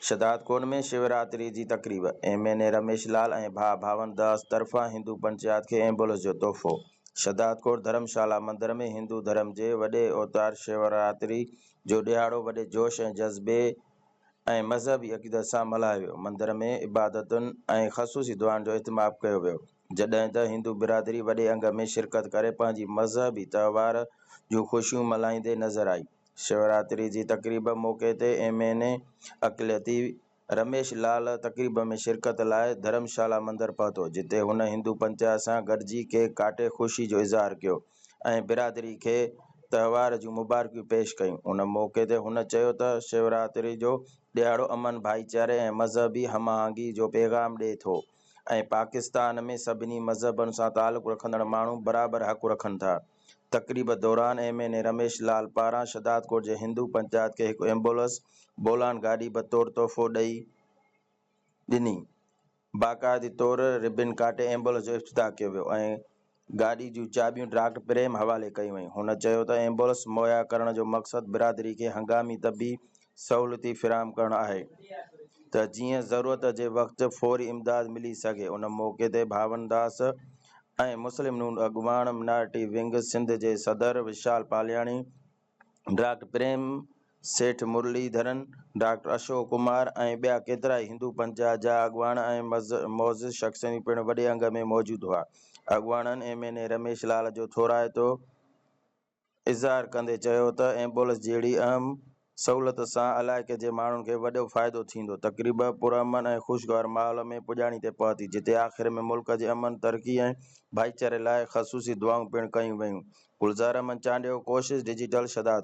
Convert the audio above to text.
شھدادڪوٽ ۾ شوراتري جي تقريب، M N A Ramesh Lal ۽ ڀاء ڀاون داس طرفان ھندو پنچيات کي ايمبولنس جو تحفو، شھدادڪوٽ ڌرم شالا مندر ۾ ھندو ڌرم جي وڏي اوتار شوراتري جو ڏھاڙو وڏي جوش ۽ جذبي ۽ مذھبي عقيدت سان ملھايو ويو، مندر ۾ عبادتن ۽ خصوصي دعائن جو اھتماب ڪيو ويو. جڏهن ته هندو برادري وڏي انگ ۾ شرڪت ڪري پنهنجي مذهبي تهوار جون خوشيون ملهائيندي نظر آئي. شيوراتري جي تقريب موقعي تي ايم اين اي اقليتي رميش لال تقريب ۾ شرڪت لاء ڌرم شالا مندر پهتو جتي هن هندو پنچايت سان گڏجي ڪيڪ ڪاٽي خوشي جو اظهار ڪيو ۽ برادري کي تهوار جون مبارڪيون پيش ڪيون ان موقعي تي هن چيو ته شيوراتري جو ڏهاڙو امن ڀائيچاري ۽ مذهبي هم آهنگي جو پيغام ڏئي ٿو. ۽ پاڪستان ۾ سڀني مذهبن سان تعلق رکندڙ ماڻهو برابر حق رکن ٿا. تقريب دوران M N A Ramesh Lal پاران شھدادڪوٽ جي ھندو پنچائت کي ھڪ ايمبولنس بولان گاڏي بطور تحفو ڏئي ڏني باقاعدي طور ربن ڪاٽي ايمبولنس جو افتتاح ڪيو ويو ۽ گاڏي جون چاٻيون ڊاڪٽر پريم حوالي ڪيون ويون. هن چيو ته ايمبولنس مهيا ڪرڻ جو مقصد برادري کي هنگامي طبي سهولتي فراهم ڪرڻ آهي ته جيئن ضرورت جي وقت فوري امداد ملي سگهي. ان موقعي تي ڀاون داس ۽ مسلم نون اڳواڻ مائنارٽي ونگ سنڌ جي صدر وشال پالياڻي، ڊاڪٽر پريم سيٺ مرلي ڌرن، ڊاڪٽر اشوڪ ڪمار ۽ ٻيا ڪيترائي هندو پنٿ جا اڳواڻ ۽ معزز شخصيون پڻ وڏي انگ ۾ موجود هئا. اڳواڻن M N A Ramesh Lal جو ٿورائتو اظهار ڪندي چيو ته ايمبولنس جهڙي اهم سهولت سان علائقي جي ماڻهن کي وڏو فائدو ٿيندو. تقريب پرامن ۽ خوشگوار ماحول ۾ پڄاڻي تي پهتي جتي آخر ۾ ملڪ جي امن، ترقي ۽ ڀائيچاري لاء خصوصي دعائون پڻ ڪيون ويون گلزار احمد چانڊيو ڪوشش ڊجيٽل شھداد.